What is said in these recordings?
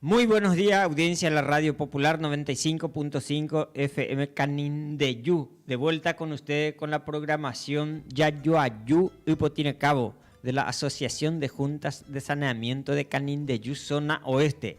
Muy buenos dias audiencia de la radio popular 95.5 FM Canindeyú de vuelta con ustedes con la programación Yayoayú Ypotirecabo de la asociación de juntas de saneamiento de Canindeyú zona oeste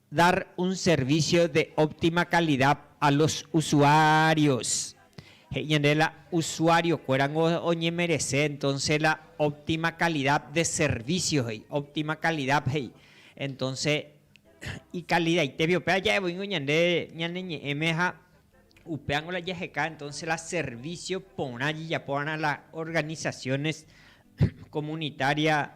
Dar un servicio de óptima calidad a los usuarios. He'i ñande la usuario kuérango oñemerese, entonce la óptima calidad de servicio he'i, óptima calidad he'i. Entonce ikalidaitégui upe aja'evoíngo ñande ñane ñe'ẽme ha upévango la jaheka entonce la servicio porã jejapóva'erã la organizaciones comunitaria.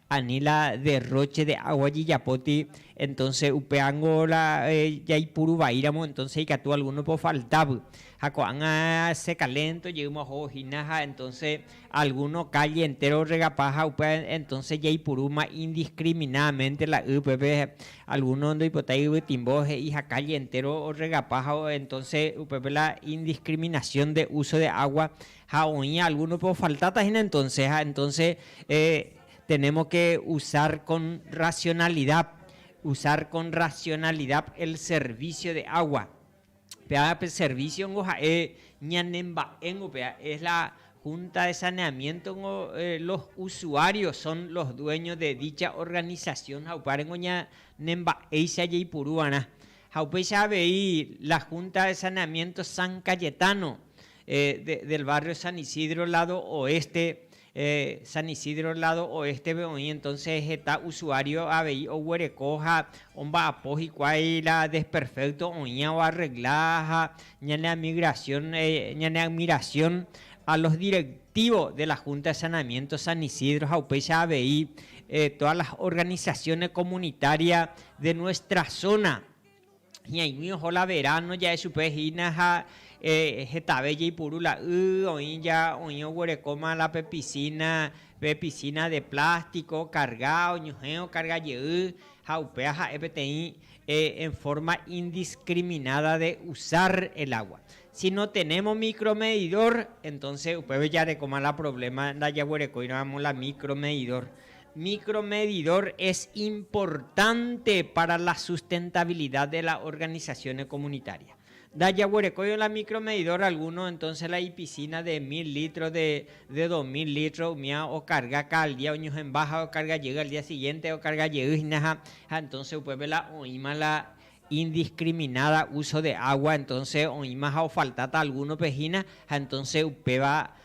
Ani la derróche de água jejapóti, entónse upévango la jaipuru vaíramo, entónse ikatu algúnope ofaltávy. Ha ko'ág̃a se kalénto jeýma oho hína ha entónse algúno kálle entéro orregapa ha upéva entónse jaipurúma indiskriminádamente la y upépe algúno ndoipotái yvytimbo he'i ha kálle entéro orregapa ha entónse upépe la indiskriminasión de úso de água Ha oĩ algúnope ofaltáta hína entónse, ha entónse tenémos ke usar kon rasionalida, usar kon rasionalida el servísio de água. Péva pe servísiongo ha'e ñanemba'éngo péva, es la Hunta de Saneamiéntongo los usuários son los dueños de dicha organisasión ha upárengo ñanemba'éicha jaiporu va'erã. Ha upéicha avei la Hunta de Saneamiénto San Cayetano, del barrio San Isidro lado oeste, San Isidro lado oeste-pe oĩ, entonces heta usuario avei oguereko ha omba'apo hikuái la desperfecto oĩva oarregla ha ñane amigración, ñane admiración a los directivos de la Junta de Saneamiento San Isidro ha upéicha avei todas las organizaciones comunitarias de nuestra zona. Hi'aig̃ui oho la veráno ja'e chupe hína ha hetave jeipuru la y, oĩ ja, oĩ oguerekóma la pe pisína, pe pisína de plástiko, karga, oñuhẽ okarga jey ha upéva ha'e peteĩ en fórma indiskriminada de usar el agua. Si no tenémos micromedidor, entónse upépe jarekóma la provléma ndajaguerekóiramo la micromedidor. Micromedidor es importante para la sustentabilidad de las organizaciones comunitarias. Nda jaguerekóiva la micromedidor alguno entonces la ipiscina de mil litros, de de dos mil litros umía ocarga cal día oñohẽmba ha ocarga jey al día siguiente ocarga jey hína ha entonces upépe la oĩma la indiscriminada uso de agua entonces oĩma ha ofaltáta algunope hína ha entonces upéva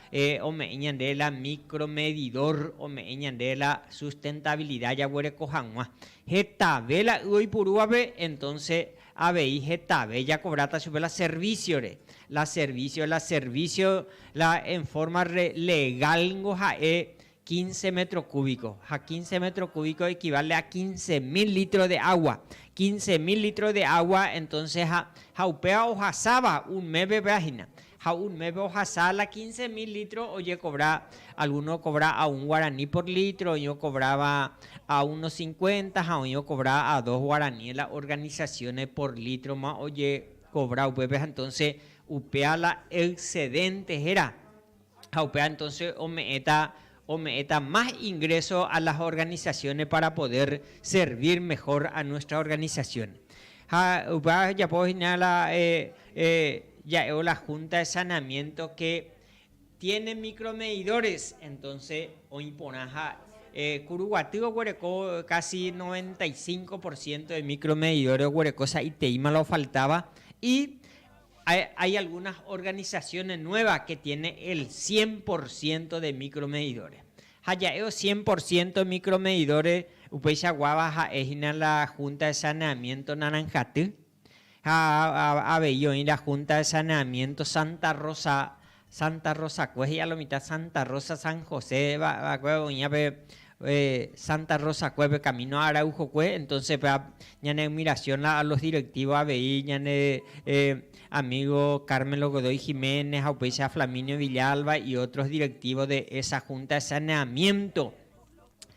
ome'ẽ ñande la micromedidor ome'ẽ ñande la sustentabilidad jaguereko hag̃ua. Hetave la y oipurúvape entonces avei hetave jakovráta chupe la servicio-re, la servicio, la servicio la en forma legal ningo ha'e Quince metro cúbico, ha quince metro cúbico equivale a quince mil litro de agua. Quince mil litro de agua, entonces ha, ha upéva ohasáva un mépe péva hína. Ha un mépe ohasa la quince mil litro ojecobra, alguno ocobra a un guarani por litro, oĩ ocobráva a uno cincuenta ha oĩ ocobra a dos guarani la organizaciones por litro ma ojecobra upépe, ha entonces upéva la excedente héra. ha upéva entonce ome'ẽta, ome'ẽta más ingreso a las organizaciones para poder servir mejor a nuestra organización. Ha upéva ojejapo hína la ja'évo la junta de saneamiento que tiene micromedidores, entonce oĩ porã ha Kuruguaty oguereko casi noventa y cinco por ciento de micromedidores oguereko sa'iteíma la ofaltáva y Hay algunas organizaciones nuevas que tiene el cien por ciento de micromedidores. Ha ja'e o cien por ciento micromedidores upéicha guáva ha'e hína la Junta de Saneamiento Naranjaty ha avei oĩ la Junta de Saneamiento Santa Rosa Santa Rosakue he'i alo mitã Santa Rosa San José va, va'ekue oĩva pe Santa Rosakue pe camino Araujokue, entonce pe ñane admiración-la a los directivos avei ñane amigo Carmelo Godoy Jiménez ha upéicha Flaminio Villalba y otros directivos de esa junta de saneamiento.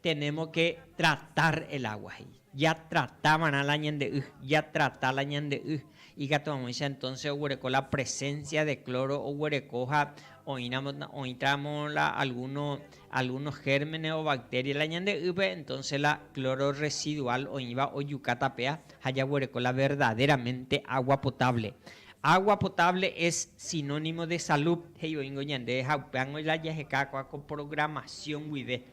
Tenemos que tratar el agua he'i. Ja trata va'erã la ñande y, ja trata la ñande y. Ikatu hag̃uáicha entonces oguereko la presencia de cloro oguereko ha oĩramo, oĩtramo la alguno, algunos gérmenes o bacterias la ñande ýpe, entonces la cloro residual oĩva ojuka tapea ha jaguereko la verdaderamente agua potable. Agua potable es sinónimo de salud he'i oĩngo ñande ha upévango la jaheka kua ko programación guive.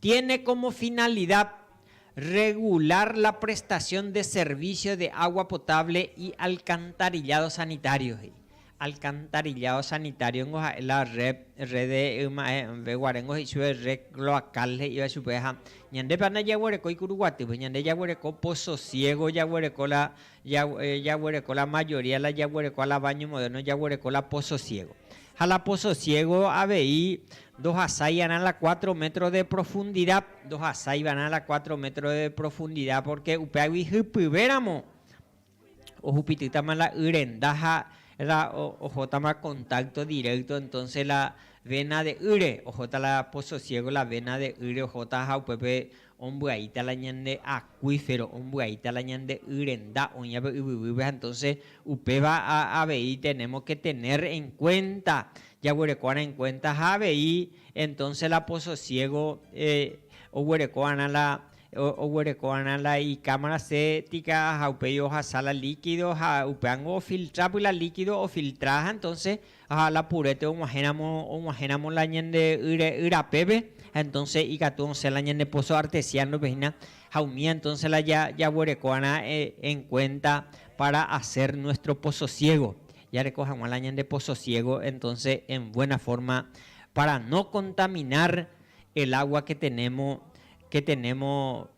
Tiene como finalidad regular la prestación de servicio de agua potable y alcantarillado sanitario, he'i. Alcantarillado sanitario ningo ha'e la red, red de yma'ẽve guare ningo he'i chupe red cloacal he'iva chupe ha ñandépa ndajaguerekói Kuruguatýpe, ñande jaguereko Pozo Ciego jaguereko la Jaguereko la mayoría la jaguereko a la baño moderno jaguereko la pozo ciego. Ha la pozo ciego avei ndohasái va'erã la cuatro metros de profundidad, ndohasái va'erã la cuatro metros de profundidad porque upéagui hypyve ramo ohupitýtama la y renda ha la ohótama contacto directo entonces la vena de ýre, ohóta la pozo ciego la vena de ýre ohóta ha upépe Ombyaíta la ñande acuífero, ombyaíta la ñande y renda oĩva pe yvyguýpe ha entonce upéva avei tenemos que tener en cuenta, jaguerekova'erã en cuenta ha avei entonce la pososiego oguerekova'erã la oguerekova'erã la icámara séptica ha upéi ohasa la líquido ha upévango ofiltra py la líquido ofiltra ha entonce ha la purete og̃uahẽramo og̃uahẽramo la ñande yre yrapépe ha entonce ikatu osẽ la ñande pozo artesiano-pe hína ha umía entonce la ja jaguerekóva'erã en cuenta para hacer nuestro pozo ciego jareko hag̃ua la ñande pozo ciego entonce en buena forma para no contaminar el agua que tenemos que tenemos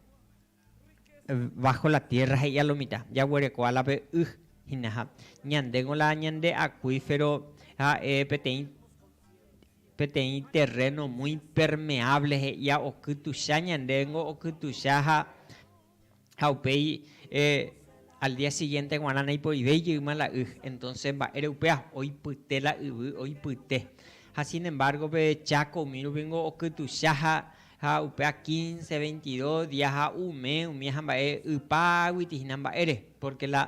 Bájo la tiérra he'íva lo mitã. Jaguerekóva la pe y hínaha. Ñandéko la ñande akuífero ha'e peteĩ terréno muy impermeáble he'íva okytucha ñandéngo, okytucha ha upéi al día siguiente g̃uarã naipoivéi jeýma la y. Entonces mba'ére upéva? Oipyte la yvy, oipyte. Ha sin embargo pe Cháko umi rupi niko okytucha ha Ha upéva quince, veintidos día ha umi umi hamba'e ypáguiti hína mba'ére, pórke la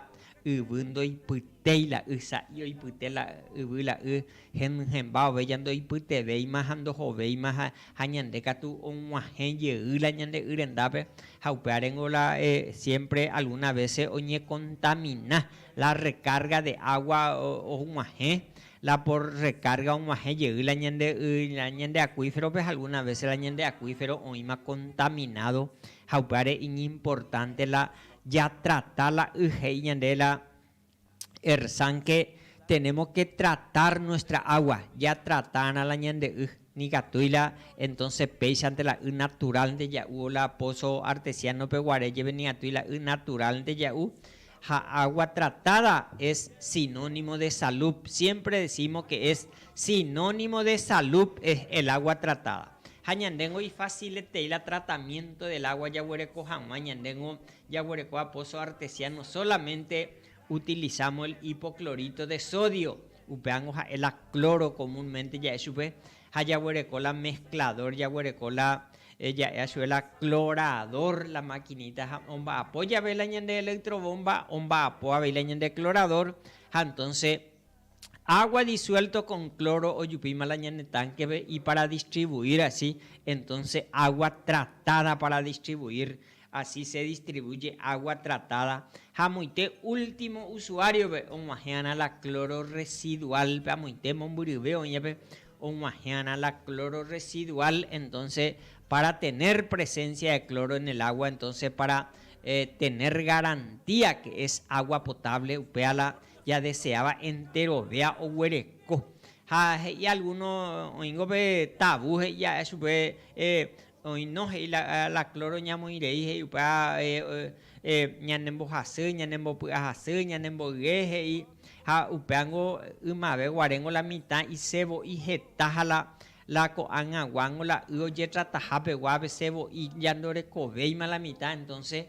yvy ndoipytéi la y sa'i oipyte la yvy la y henyhẽmba ovéja ndoipytevéima ha ndohovéima ha ñande katu og̃uahẽ jey la ñande y rendápe ha upévarengo la siémpre algúna vése oñekontamina la rekárga de água og̃uahẽ La por recarga omoahẽ jey la ñande y la ñande acuíferope ha alguna vece la ñande acuífero oĩma contaminado ha upévare iñimportante la ja trata la y he'i ñande la Ersan que tenemos que tratar nuestra agua, ja tratarã la ñande y. Nikatúi la entonce péichante la y naturalnte ja'u o la pozo artesianope guare jeve nikatúi la y naturalnte ja'u ha agua tratada es sinónimo de salud siempre decimos que es sinónimo de salud es el agua tratada ha ñandéngo ifacilete la tratamiento del agua jaguereko haguã ñandéngo jaguerekóva pozo artesiano solamente utilizamos el hipoclorito de sodio Upévango ha'e la cloro comúnmente ja'e chupe ha jaguereko la mezclador jaguereko la ja'éva chupe la clorador la maquinita ha omba'apo jave la ñande electrobomba omba'apo avei la ñande clorador ha entonce agua disuelto con cloro ojupíma la ñane tankepe y para distribuir asi entonce agua tratada para distribuir Así se distribuye agua tratada ha amoite último usuario-pe og̃uahẽ'arã la cloro residual-pe amoite mombyryve oĩvape og̃uahẽ'arã la cloro residual entonce para tener presencia de cloro en el agua entonce para tener garantía que es agua potable upéva la jadeseáva enterovéa oguereko ha he'i alguno oĩngo pe tabú he'i ja'e chupe Oĩno he'i la cloro ñamoĩ rei he'i upe ñanembohasy, ñanembopy'ahasy, ñanemboyge he'i ha upéango ymave guaréngo la mitã ise vo'i heta ha la ko'ág̃a guángo la y ojetrataha pegua avese vo'i ñandorekovéima la mitã entonce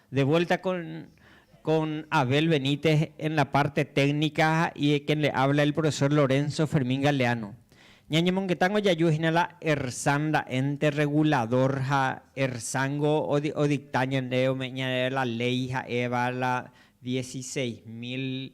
De vuelta con con Abel Benítez en la parte técnica ha y quien le habla el profesor Lorenzo Fermín Galeano. Ñañemongetángo jaju hína la ERSAN la ente regulador ha ERSAN-go o dicta ñande ome'ẽ ñande la ley ha'éva la dieciséis mil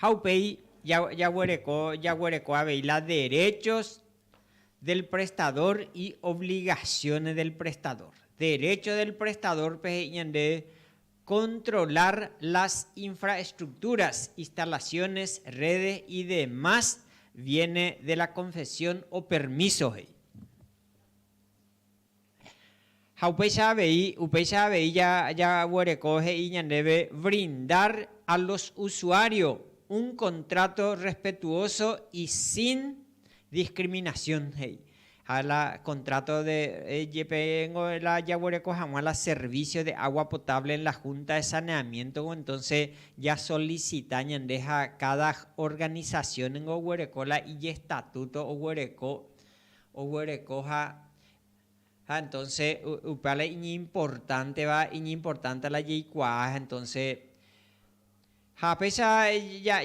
Ha upéi jaguereko jaguereko avei la derechos del prestador y obligaciones del prestador. Derecho del prestador pe he'i ñande controlar las infraestructuras, instalaciones, redes y demás viene de la confesión o permiso he'i. Ha upéicha avei, upéicha avei ja, jaguereko he'i ñandéve brindar a los usuario un contrato respetuoso y sin discriminación, he'i. Ha la contrato de, jepe ningo la jaguereko hag̃ua la servicio de agua potable en la Junta de Saneamiento-gui, entonces ja solicita ñande ha cada organización ningo oguereko la ijestatuto oguereko, oguereko ha Ha entonce upéva la iñimportanteva, iñimportante la jaikuaa, ha entonce ha péicha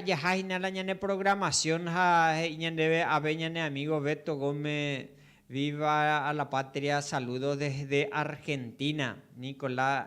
jaha hína la ñane programación ha he'i ñandéve ave ñane amigo Beto Gómez, Viva a la patria, saludos desde Argentina, Nicolás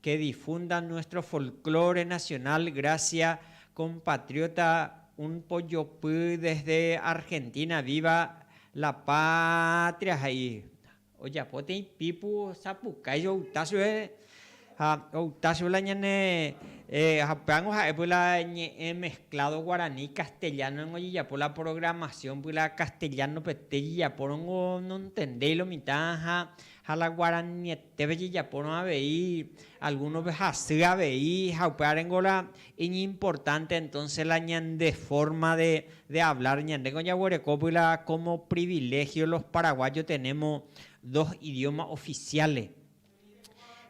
que difundan nuestro folklore nacional gracia compatriota un pojopy desde Argentina viva la patria ja'i ojapo teĩ pipu sapukái jouta chupe ha outa chupe la ñane upévango ha'e py la ñe'ẽ mezclado guarani castellano ningo ojejapo la programación py la castellano pete jejapórongo nontendéi lo mitã ha la guaraniete Ndéve jejapórõ avei algúnope hasy avei ha upévare ngóra iñimportánte entónse la ñande fórma de avlár. Ñandéko jaguerekópy la kómo priviléhio los paraguájo tenémo dos idióma ofisiále.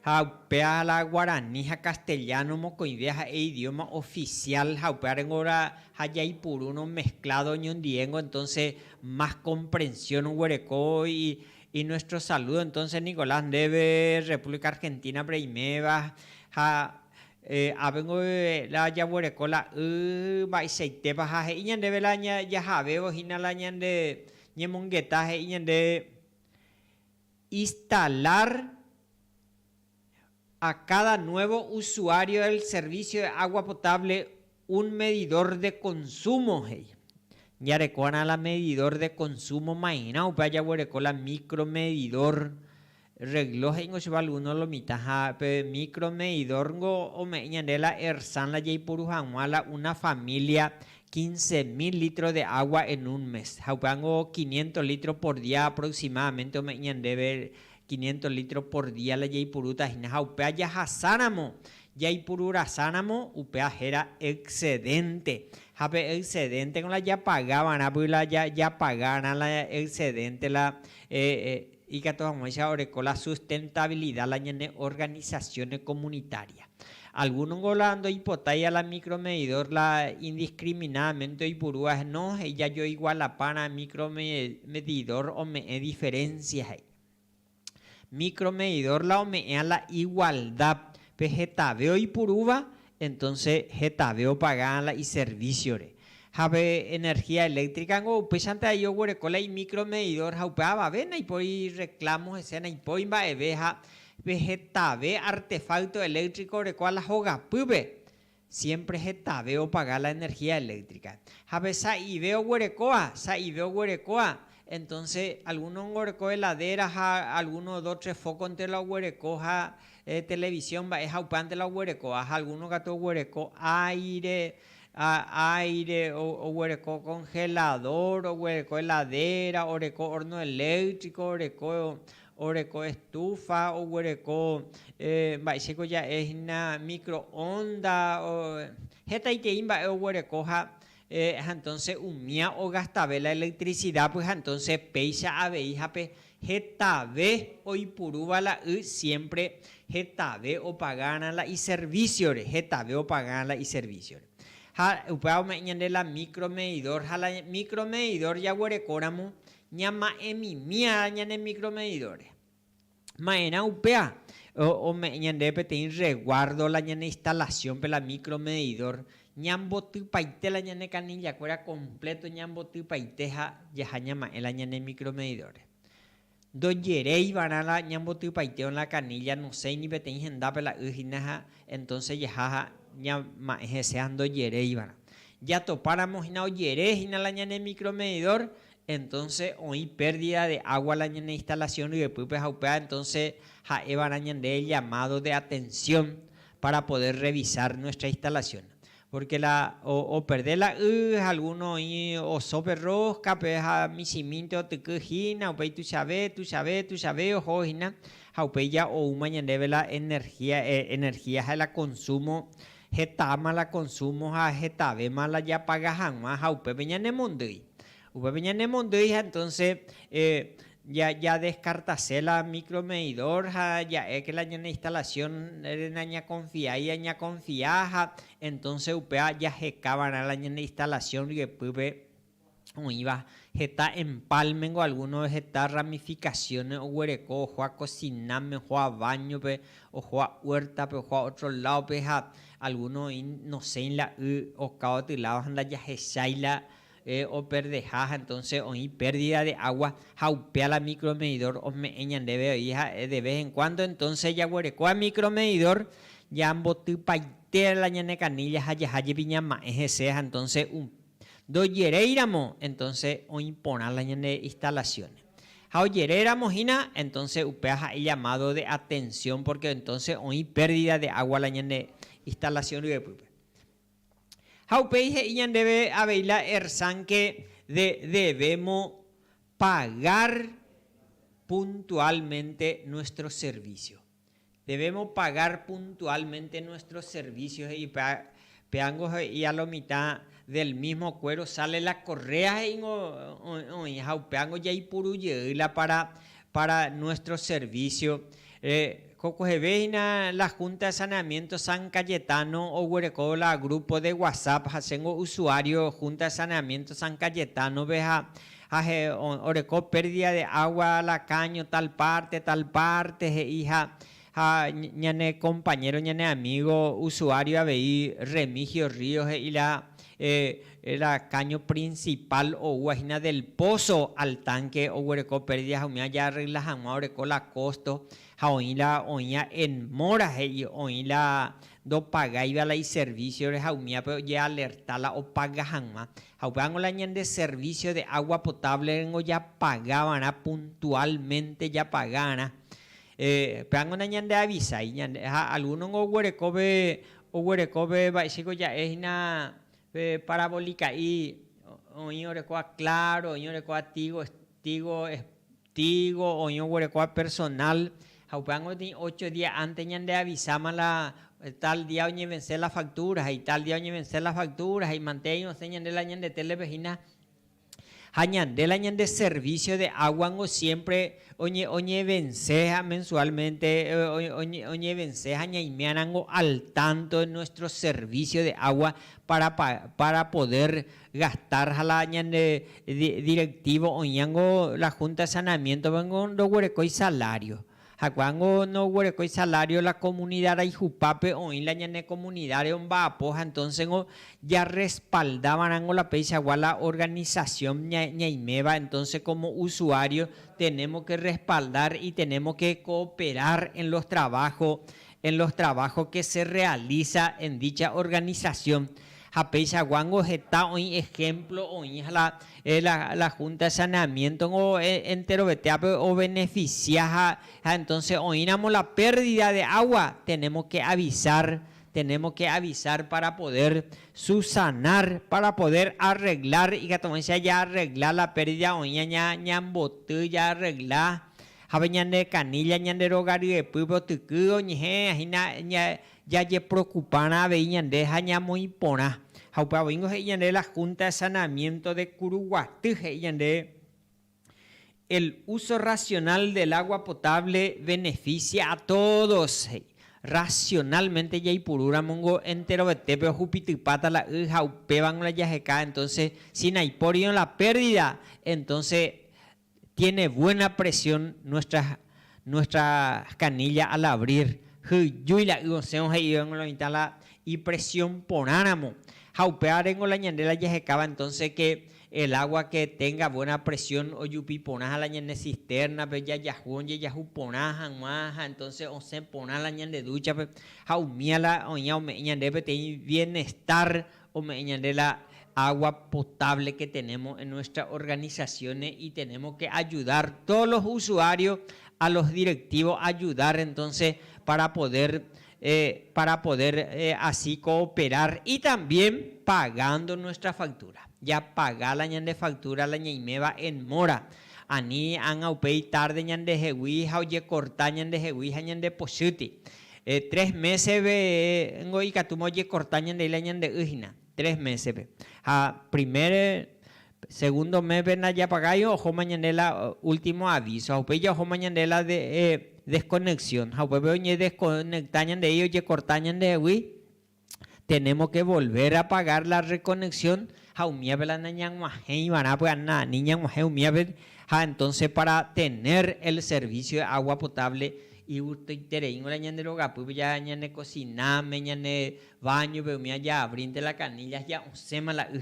Ha upéva la guarani ha kastejáno mokõive ha'e idióma ofisiál ha upévare ngóra ha jaipurúrõ meskládo oñondivéngo entónse más komprensión oguereko Y nuestro saludo entonces Nicolás ndéve República Argentina-pe reiméva ha ápengo la jaguereko la y mba'eichaitépa ha he'i ñandéve la jahavévo hína la ñande ñemongeta he'i ñande instalar a cada nuevo usuario el servicio de agua potable Un medidor de consumo he'i. Jarekova'erã la medidor de consumo mairã upe ajaguereko la micro medidor regló he'ingo che valguno lo mitã ha pe micro medidor niko ome'ẽ ñande la Ersan la jaiporu hag̃ua la una familia quince mil litro de agua en un mes ha upévango quinientos litro por día aproximadamente ome'ẽ ñandéve Quinientos litros por día la jaipurúta hína ha upéva jahasáramo jaipururasáramo upéva héra excedente. Ha pe excedente-g̃uarã la japaga va'erã py la japaga'arã la excedente la ikatu hag̃uáicha oreko la sustentabilidad la ñane organizaciones comunitarias. Alguno-ngo la ndoipotái a la micromedidor la indiscriminadamente oipurúva he'i no he'i jajoigualapárã micromedidor ome'ẽ diferencia he'i. Micromedidor la ome'ẽa la igualdad pe hetave oipurúva, entonces hetave opagáa la iservíciore. Ha pe energía eléctrica niko upéichante ahí oguereko la imicromedidor ha upe avave naipóri reclamo hese, naipóri mba'eve ha pe hetave artefacto eléctrico orekóva la hogapýpe, Siémpre hetave opaga la energía eléktrika. Ha pe sa'ive oguerekóva, sa'ive oguerekóva, entónse algúno oguereko heladéra ha algúno do tres fókonte la oguereko ha televisión mba'e ha upévante la oguerekóva. Ha algúno katu oguereko áire, áire, oguereko konheladór, oguereko heladéra, oreko horno eléktriko, oreko, oreko estufa, oguereko mba'éichapa ja'e hína microonda, hetaiterei mba'e oguereko ha entonces umía ogastave la electricidad pues ha entonces péicha avei ha pe hetave oipurúva la y siempre hetave opagarã la iserviciore, hetave opagarã la iserviciore. Ha upéva ome'ẽ ñande la micro medidor, ha la micro medidor jaguerekóramo Ñama'ẽmimiára ñane micromedidores. Ma'erã upéva ome'ẽ ñandéve peteĩ reguardo la ñane instalación-pe la micromedidor, ñambotypaite la ñane kanillakuéra completo ñambotypaite ha jaha ñama'ẽ la ñane micromedidores. Ndojeréivarã la ñambotypaiteo la canilla, nosẽi ni peteĩ hendápe la y hína ha entonces jaha ha ñama'ẽ hese ha ndojeréivarã. Jatopáramo hína ojere hína la ñane micromedidor, entonce oĩ pérdida de agua la ñane instalación ryepýpe ha upéva entonce ha'évarã ñande el llamado de atención para poder revisar nuestra instalación porque la operde la y ha alguno oĩ osópe rosca-pe ha michĩmínte otyky hína upéi tuichave, tuichave, tuichave oho hína ha upéi ja oúma ñandéve la energía, energía ha la consumo Hetáma la konsúmo ha hetavéma la japaga hag̃ua ha upépe ñanemondýi. Upépe ñanemondýi ha entónse jadeskartase la mikromedidór ha ja'éke la ñane instalasiónre nañakonfiái añakonfia ha entónse upéva jaheka va'erã la ñane instalasión ryepýpe. oĩva heta empálmengo, alguno heta ramificaciones oguereko ohua cocina-me, ohua baño-pe, ohua huerta-pe, ohua otro lado-pe ha alguno oĩ nosẽi la y oka gotyo lado ha ndajahechái la operdeha ha entonces oĩ pérdida de agua ha upéa la micromedidor ome'ẽ ñandéve oĩ ha'e de vez en cuando entonces jaguerekóva micromedidor jambotypaite la ñane canilla ha jaha jepi ñama'ẽ hese ha entonces upéva Ndojeréiramo, entonce oĩ porã la ñane instalación. Ha ojeréramo hína, entonce upéva ha'e llamado de atención porque entonce oĩ pérdida de agua la ñane instalación ryepýpe. Ha upéi he'i ñandéve avei la ERSAN que de debemo pagar puntualmente nuestro servicio. Debemos pagar puntualmente nuestros servicios he'ipa péango he'i a lo mitã del mismo cuero sale la correa he'ingo oĩ ha upéango jaipuru jey la para para nuestro servicio jokogeve hína la Junta de Saneamiento San Cayetano oguereko la grupo de WhatsApp ha chéngo usuario Junta de Saneamiento San Cayetano-pe ha ha he'i oreko pérdida de agua la caño tal parte, tal parte he'i ha ha ñane compañero ñane amigo usuario avei Remigio Ríos he'i la la caño principal oúva hína del pozo al tanque oguereko pérdida ha umi aja arregla hag̃ua oreko la costo ha oĩ la oĩva en mora he'i oĩ la ndopagáiva la iservicio-re ha umívape ojealerta la opaga hag̃ua Ha upévango la ñande servicio de agua potable rengo japaga va'erã puntualmente japaga'arã. Upévango nañande avisái ñande. Ha alguno-ngo oguerekóve, oguerekóve va'echéko ja'e hína pe parabolica'i, oĩ orekóva Claro, oĩ orekóva Tigo, Tigo Digo oĩ oguerekóva personal ha upéva gotĩ ocho día antes ñande avisáma la tal día oñevense la factura ha ital día oñevense la factura ha imante aĩ osẽ ñande la ñande télepe hína. Ha ñande la ñande servicio de agua niko siempre oñevense ha mensualmente oñevense ha ñaimérã rango al tanto de nuestro servicio de agua para poder gastar ha la ñande directivo oĩango la junta de saneamiento vengo ndoguerekói salario hakuango ndoguerekói salario la comunidad raihupápe oĩ la ñane comunidad-re omba'apo ha entoncengo ja respalda va'erãngo la peichagua la organización ñaiméva entonce como usuario tenemos que respaldar y tenemos que cooperar en los trabajos en los trabajos que se realiza en dicha organización ha peichaguángo heta oĩ ejemplo oĩ ha la Junta de Saneamientongo enterovetéape obeneficia ha entonces oĩramo la pérdida de agua tenemos que avisar, tenemos que avisar para poder subsanar, para poder arreglar ikatuvéicha jaarregla la pérdida oĩva ñamboty jaarregla Jave ñane kanilla ñande róga ryepýpe otyky oñehẽ hína jajeprokupárã avei ñande ha ñamoĩ porã. Ha upéva voíngo he'i ñande la Junta de Saneamiento de Curuguaty he'i ñande el uso racional del agua potable beneficia a todos he'i. Racionalmente jaipurúramongo enterovetépe ohupitypáta la y ha upévango la jaheka entonces si naipórirõ la pérdida entonces Tiene buena presión nuestra nuestra canilla al abrir hyjúi la y osẽvo he'ivéngo la mitã la ipresión porã ramo ha upéva rengo la ñande la jahekáva entonces que el agua que tenga buena presión ojupi porã ha la ñane cisterna pe jajahu ojejahu porã hag̃ua ha entonces osẽ porã la ñande ducha pe ha umía la oĩva ome'ẽ ñande peteĩ bienestar ome'ẽ ñande la agua potable que tenemos en nuestras organizaciones y tenemos que ayudar todos los usuarios a los directivos ayudar entonces para poder para poder así cooperar y también pagando nuestra factura. Ya paga la ñande factura la ñaiméva en móra, ani ágã upéi tarde ñandehegui ha ojecorta ñandehegui ha ñande pochýti. Tres mésepe ningo ikatúma ojekorta ñande y la ñande y hína. Tres mésepe. Ha primer, segundo méspe ndajapagáiva ojóma ñande la último aviso. Ha upéicha ojóma ñande la desconexión. Ha upépe oñedesconecta ñandéi ojekorta ñandehegui. Tenémos ke volver a pagar la rekoneksión ha umíape la nañag̃uahẽ iva'erã py'a nani ñag̃uahẽ umíape ha entonse pára tener el servicio de agua potable igustoiterei g̃uarã ñande rogapýpe ja ñane kosináme, ñane báñope umi jaabrínte la canilla ja osẽma la y.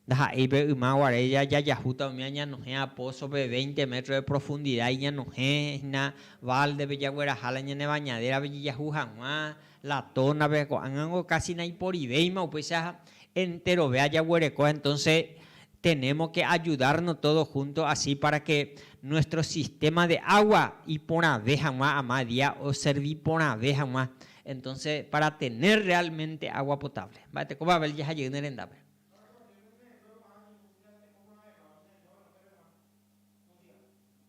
Ndaha'éi pe yma guare ja jajahúta umi añanohẽ a pózope veinte metros de profundidad iñanohẽ hína báldepe jagueraha la ñane bañadérape jejahu hag̃ua La tónape ko'ág̃ango kási naiporivéima upéicha enterove ajaguereko, entónse tenémo ke ajudárno tódo húnto asi pára ke nuéstro sistéma de água iporãve hag̃ua ama día oservi porãve hag̃ua, entónse pára tener realmente água potable. Mba'ete ko Babel jaha jey ne rendápe.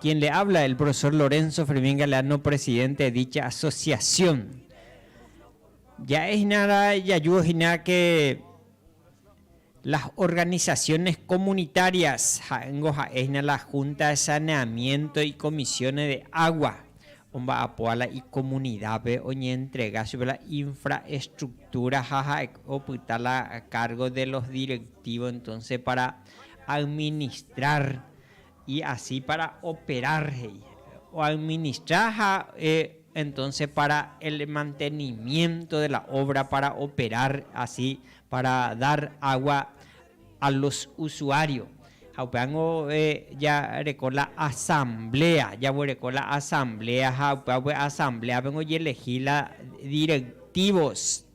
Quien le habla el profesor Lorenzo Fermín Galeano presidente de dicha asociación ja'e hína ra jaju hína que las organizaciones comunitarias ha'éngo ha'e hína la junta de saneamiento y comisiones de agua omba'apoha la icomunidad-pe oñeentrega chupe la infraestructura ha ha'e opyta la cargo de los directivos entonces para administrar Y así para operar he'i. O administra ha entonces para el mantenimiento de la obra para operar así para dar agua a los usuarios. Ha upévango jaguereko la asamblea, jaguereko la asamblea ha upéva pe asambleape oyelegí la directivos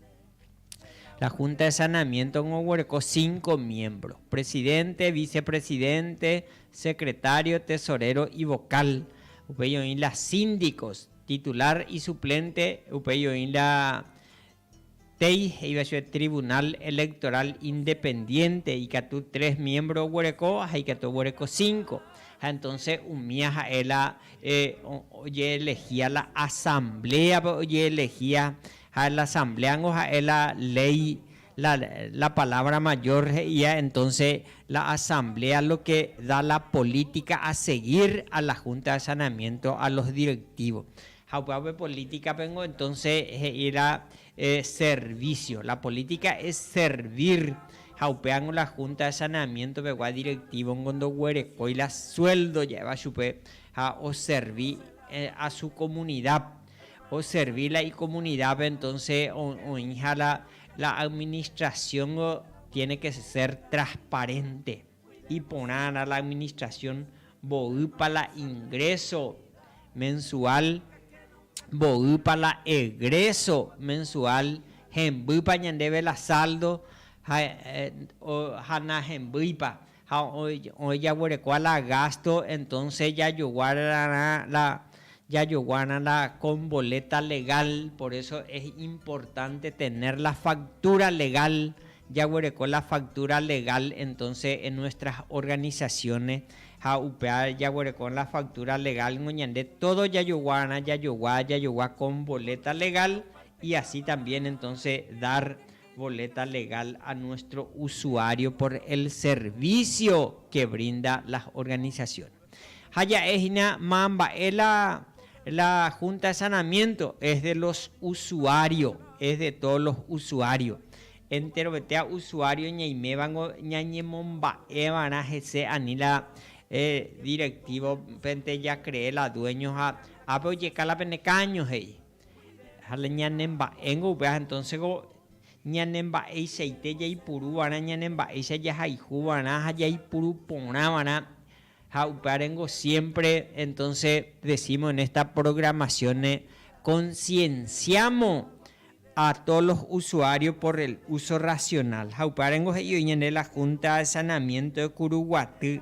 La Junta de Saneamiento-g̃ua oguereko cinco miembro, Presidente, Vicepresidente, Secretario, Tesorero y Vocal. Upéi oĩ la Síndicos, Titular y Suplente. Upéi oĩ la TEI, he'íva chupe Tribunal Electoral Independiente, ikatu tres miembro oguereko ha ikatu oguereko cinco. Ha entonce umía ha'e la oje'elehia la Asamblea-pe oje'elehia Ha la asambléango ha'e la léi, la, la palabra mayor he'íva entonce la asamblea lo que da la política a seguir a la junta de saneamiento, a los directivos. Ha upéva pe políticapengo entonce he'i la servicio, la política es servir, ha upévango la junta de saneamiento pegua directivongo ndoguerekói la sueldo ja'éva chupe ha oservi a su comunidad. oservi la ikomunidápe, entonse oĩha la administrasióngo tiene ke ser trasparente, iporãrã la administrasión mboýpa la ingréso mensuál, mboýpa la egréso mensuál, hembýpa ñandéve la sáldo ha nahembýipa. ha ojejaguerekóva la gásto, entónse jajoguárarã la, jajoguárarã la kon boléta legál. Por eso es importante tener la faktúra legál, jaguereko la faktúra legál entonce en nuestras organizaciones, ha upéva jaguereko la faktúra legál ningo ñande todo jajoguárarã, jajogua, jajogua kon boléta legál y así también entonce dar Boleta legal a nuestro usuario por el servicio que brinda las organizaciones. Ha ja'e hina ma mba'e la la Junta de Sanamiento es de los usuario, es de todos los usuario. Enterovetéa usuario ñaimévango ñañemomba'eva'erã hese ani la eh, directivo pente ja cree la dueño ha ápe ojeka la pene caño, he'i. Ha ñane mba'éngo upéva entónsego ñane mba'eichaite jaipuruva'erã ñane mba'éicha jahayhuva'erã ha jaipuru porãva'erã ha upévarengo siémpre entónse desímo en ésta programasiónre konsienciámo a tóo los usuário por el úso rasional. Ha upévarengo he'i oĩ ñande la Húnta de Sanamiénto de Kuruguaty.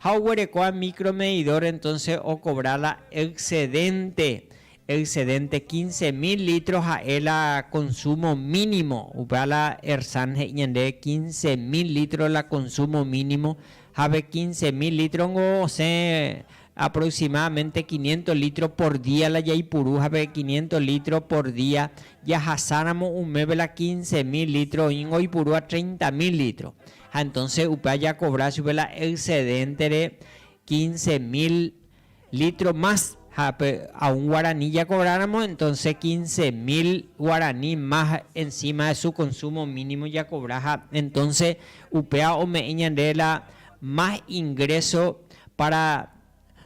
Ha oguerekóva micromedidor entonce ocobra la excedente, excedente quince mil litros ha'e la consumo mínimo, upéva la ERSAN he'i ñande quince mil litros la consumo mínimo, ha pe quince mil litros niko osẽ aproximadamente quinientos litros por día la jaipuru ha pe quinientos litros por día jahasáramo umeve la quince mil litros oĩngo oipurúva treinta mil litros. Ha entonce upe ajakovra chupe la excedente-re quince mil litro más. Ha pe a un guarani jakovráramo, entonce quince mil guarani más encima de su consumo mínimo jakovra. Ha entonce upéva ome'ẽ ñande la más ingreso para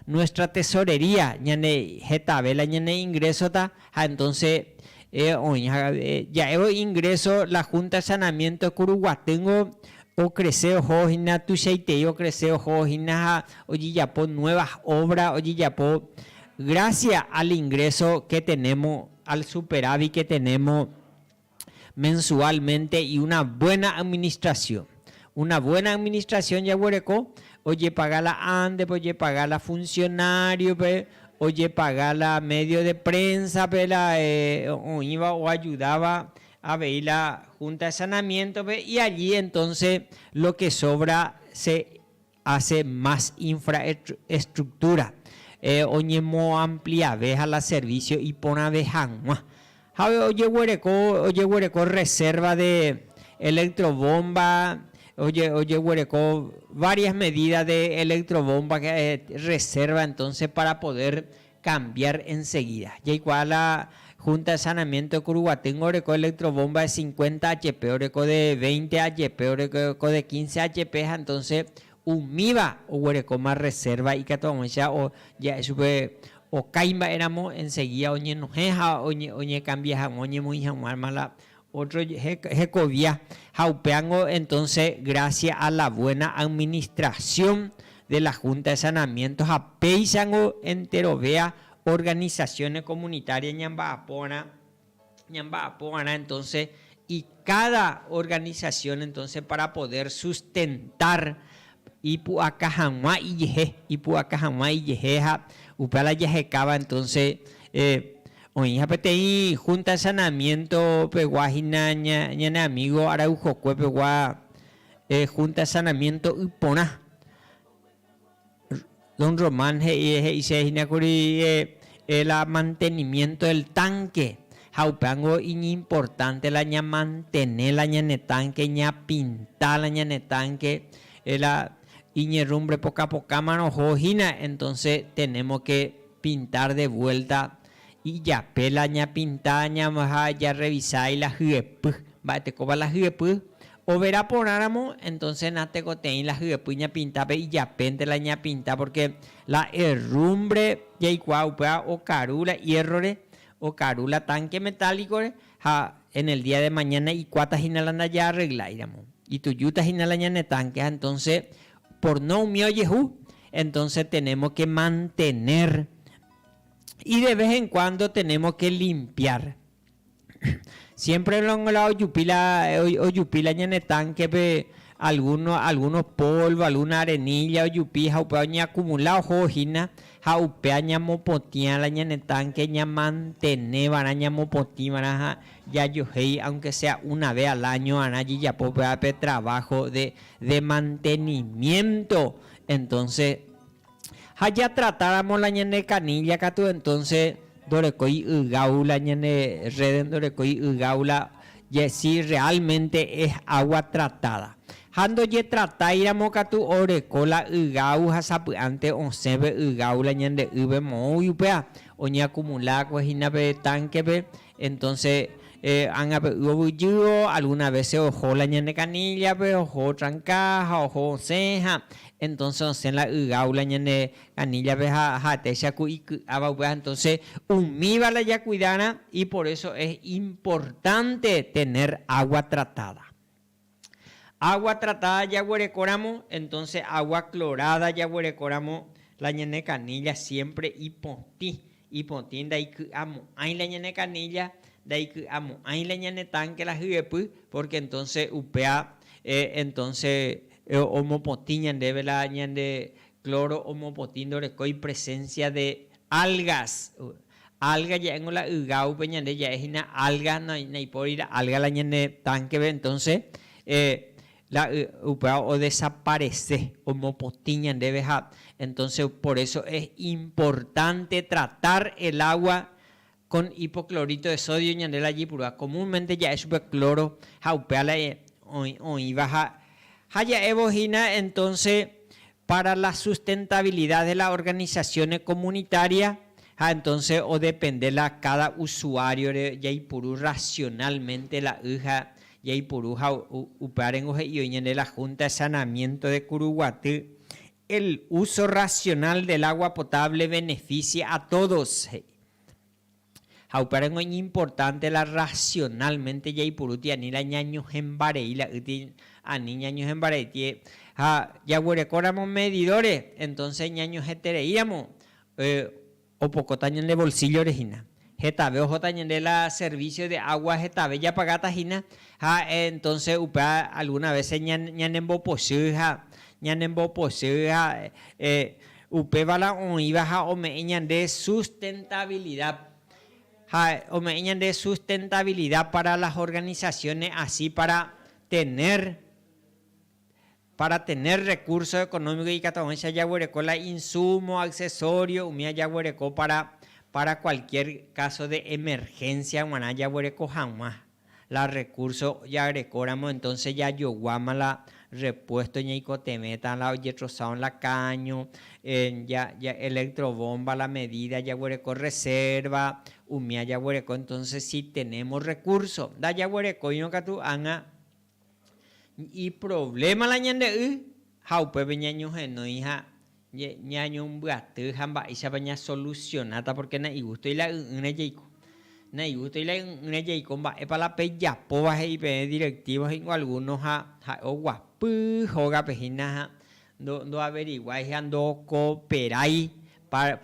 nuestra tesorería, ñane hetave la ñane ingreso-ta, ha entonce oĩ ja'évo ingreso la Junta de Saneamiento Curuguatýngo ocrece oho hína, tuichaitei ocrece oho hína ha ojejapo nuevas obra, ojejapo gracias al ingreso que tenemos, al superávit que tenemos. mensualmente y una buena administración. Una buena administración jaguereko ojepaga la ándepe, ojepaga la funcionario-pe, ojepaga la medio de prensa-pe la oĩva oajudáva avei la Junta de Sanamiento-pe y allí entonces lo que sobra se hace más infraestructura, oñemoampliave ha la servicio iporãve hag̃ua. Ha ojeguereko, ojeguereko reserva de electrobomba, ojeguereko varias medidas de electrobomba reserva entonces para poder cambiar enseguida. Jaikuaa la Junta de Saneamiento de Curuguatyngo oreko electrobomba de cincuenta HP, oreko de veinte HP, oreko de quince HP ha entonces umíva oguerekóma reserva ikatu ag̃uicha ja'e chupe okái mba'éramo enseguida oñenohẽ ha oñecambia hag̃ua oñemoĩ hag̃uáma la Ótro hekovia ha upévango entónse grásia a la vuéna administrasión de la Hunta de Sanamiénto ha péichango enterovéa organisasiónes komunitárias ñamba'apo va'erã entónse i káda organisasión entónse pára podér sustentár ipu'aka hag̃ua ijehe, ipu'aka hag̃ua ijehe ha upéva la jahekáva entónse Oĩha peteĩ Junta Sanamiento pegua hína ñane amigo Araujokue pegua Junta Sanamiento y porã. Don Román he'ise hína kuri él la mantenimiento del tanque ha upéango iñimportante la ñamantene la ñane tanque, ñapinta la ñane tanque, él la iñerrumbre poka pokámarõ oho hína, entonce tenemos que. Pintar de vuelta ijape la ñapinta ha jarrevisa la hyepy, mba'etekópa la hyepy, overa porãramo entonce natekotei la hyepy ñapintápe ijapénte la ñapinta porque la herrumbre jaikuaa upéva okaru la hierro-re, okaru la tanque metálico-re ha en el día de mañana ikuáta hína la ndajaarregláiramo, itujúta hína la ñane tanque ha entonce Por no umi ojehu, entonce tenemos que mantener y de vez en cuando tenemos que limpiar. Siempre la ojupi la ojupi la ñane tanque pe alguno alguno polvo, alguna arenilla ojupi ha upéva oñe acumula oho hína ha upéa ñamopotĩa la ñane tanque ña mantene va'erã ñamopotĩ va'erã ha jajohéi aunque sea una vez al año va'erã jejapo upéva pe trabajo de de mantenimiento entonces ha ja tratáramo la ñane canilla katu entonces ndorekói ygau la ñane rede ndorekói ygau la si realmente es agua tratada ha ndojetratáiramo katu oreko la ygau ha sapy'ánte osẽve ygau la ñande yve moõi upéva oñeakumula'akue hína pe tankepe Entonce ágape yvovyjývo, alguna vece oho la ñane canilla-pe, oho otranca ha oho osẽ ha entonce osẽ la ygau la ñane canilla-pe ha ha'etéicha ku iky'áva upéva. Entonce umíva la jacuidára y por eso es importante tener agua tratada. Água tratada jaguerekoramo, entonce água clorada jaguerekoramo, la ñane canilla siempre ipotĩ, ipotĩ ndaiky'amo'ãi la ñane canilla, ndaiky'amo'ãi la ñane tanque la hyepy, porque entonce upéa entonce omopotĩ ñandéve la ñande cloro omopotĩ ndorekói presencia de algas, Alga ja'éngo la ygáupe ñande ja'e hína alga naipóri la alga la ñane tánkepe entonce la upéva o desaparece omopotĩ ñandéve ha entonce por eso es importante tratar el agua con hipoclorito de sodio ñande la jipurúva comúnmente ja'e chupe cloro ha upéva la oĩva ha ja'évo hína entonce para la sustentabilidad de las organizaciones comunitarias, ha entonce odepende la cada usuario-re jaipuru racionalmente la y ha jaipuru ha upe arengo he'i oñande la Junta de Saneamiento de Curuguaty, el uso racional del agua potable beneficia a todos, he'i. Ha upéva ningo iñimportánte la rrasionálmente jaipurúti ani la ñañohẽmbarei la yti ani ñañohẽmbareiti. Ha jaguerekóramo medidóre, entónse ñañohẽtereíramo opokóta ñande volsíllore hína. Hetave ohóta ñande la servísio de água hetave japagáta hína, ha entónse upéva algúna vése ñanembopochy ha ñanembopochy ha. Upéva la oĩva ha ome'ẽ ñande sustentabilidad. Ha ome'ẽ ñande sustentabilidad para las organizaciones así para tener, para tener recursos económicos ikatu avëicha jaguereko la insumo, accesorio umi ajaguereko para, para cualquier caso de emergencia g̃uarã jaguereko hag̃ua. la recurso jarekóramo entonce jajoguáma la repuesto ñaikotevẽta la ojetrosáva la cada año ja electro bomba la medida jaguereko reserva umía jaguereko entonce si tenemos recurso ndajaguerekóirõ katu ág̃a Iprovléma la ñande y ha upépe ñañohenói ha ñañombyaty ha mba'éichapa ñasolusionáta pórke naigústoi la y'ỹre jaiko. Naigústoi la y'ỹre jaiko mba'épa la pejapóva he'i peẽ directivo hína algúno ha ha'e oguapy hógape hína ha ndoaveriguái ha ndookoperái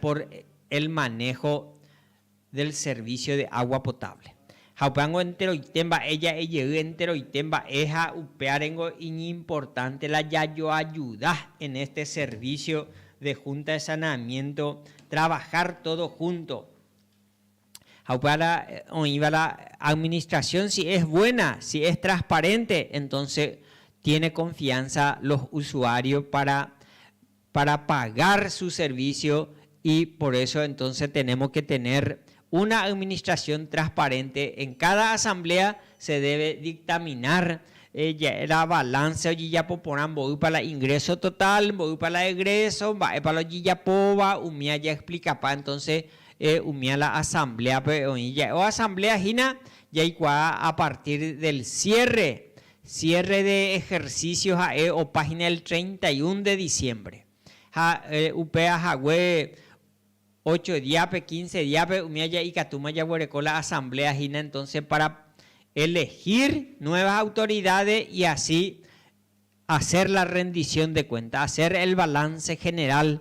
por el manejo del servicio de agua potable. Ha upévango enteroite mba'e ja'e jey enteroite mba'e ha upéarengo iñimportánte la jajoajuda en este servicio de Junta de Saneamiento trabajar todos juntos. Ha upévara oĩvara administración si es buena, si es transparente, entonces tiene confianza los usuarios para para pagar su servicio y por eso entonces tenemos que tener una administración transparente en cada asamblea se debe dictaminar la balanza ojejapo porã mboýpa la ingreso total mboýpa la egreso mba'épa la ojejapóva umi aja explicapa entonces umi a la asambleape oĩ ja'e o asamblea hína jaikuaa a partir del cierre Cierre de ejercicio ha'e opa hína el treinta y un de diciembre. Ha upéva hague ocho diápe, quince diápe umi aja ikatúma jaguereko la asamblea hína entonce para elegir nuevas autoridades y así hacer la rendición de cuentas, hacer el balance general.